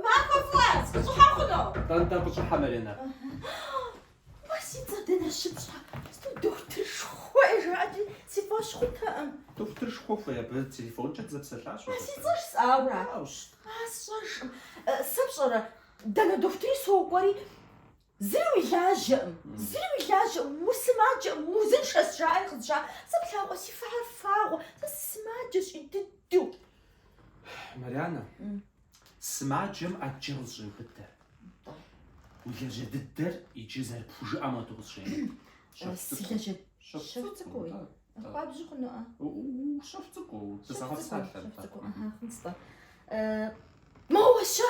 Махуэ фӏыуэ, сыныщӏыхьэ хъуну? Нтӏэ, нтӏэ, къыщӏыхьэ, Маринэ. Уэ си цӏэр дэнэ щыпщӏа? Дохутыршхуэ жаӏэти си фӏэщ хъутэкъым. Дохутыршхуэ хуей абы телефонкӏэ дызэпсэлъащ. А си цӏэр бжесӏауэра? Аращ. А сщӏэжкъым. Сэ пщӏэрэ, дэнэ дохутыри сокӏуэри, Зыри уи лажьэкъым, зыри уи лажьэкъым, усымаджэкъым, уузыншэщ, жаӏэри къызжаӏэ. Сэ плъагъурэ, си фэхэр фагъуэ, сэ сымаджэщ ин дыдэу. Марянэ, сымаджэм ӏэджэ къызэщӏеубыдэ. Уи лажьэ дыдэр иджы зэрыпхужыӏэм хуэдэу къызжеӏэ. Щэху цӏыкӏуу. Щэху цӏыкӏууи? Хуабжьу хъунукъэ? Щэху цӏыкӏуу дызэгъэпсалъэ. Щэху цӏыкӏуу, хъунщ-тӏэ. Моуэ, щэ!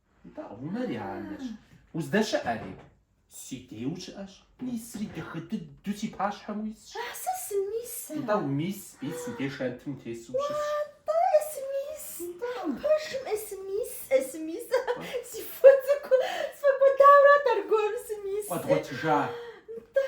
Нтӏэ, унэр я анэщ. Уздэщыӏэри? Си дей ущыӏэщ. Мисри дахэ дыдэу си пащхьэм уисщ. А сэ сымис ар. Нтӏэ, умис, мис си деж шэнтым утесу ущысщ. Уа-тӏэ, эсымис. Нтӏэ, пэшым эсымис, эсымис. Си фо цӏыкӏу сфӏэкӏуэдауэ арат аргуэру сымис. Укъэдгъуэтыжа? Нтӏэ.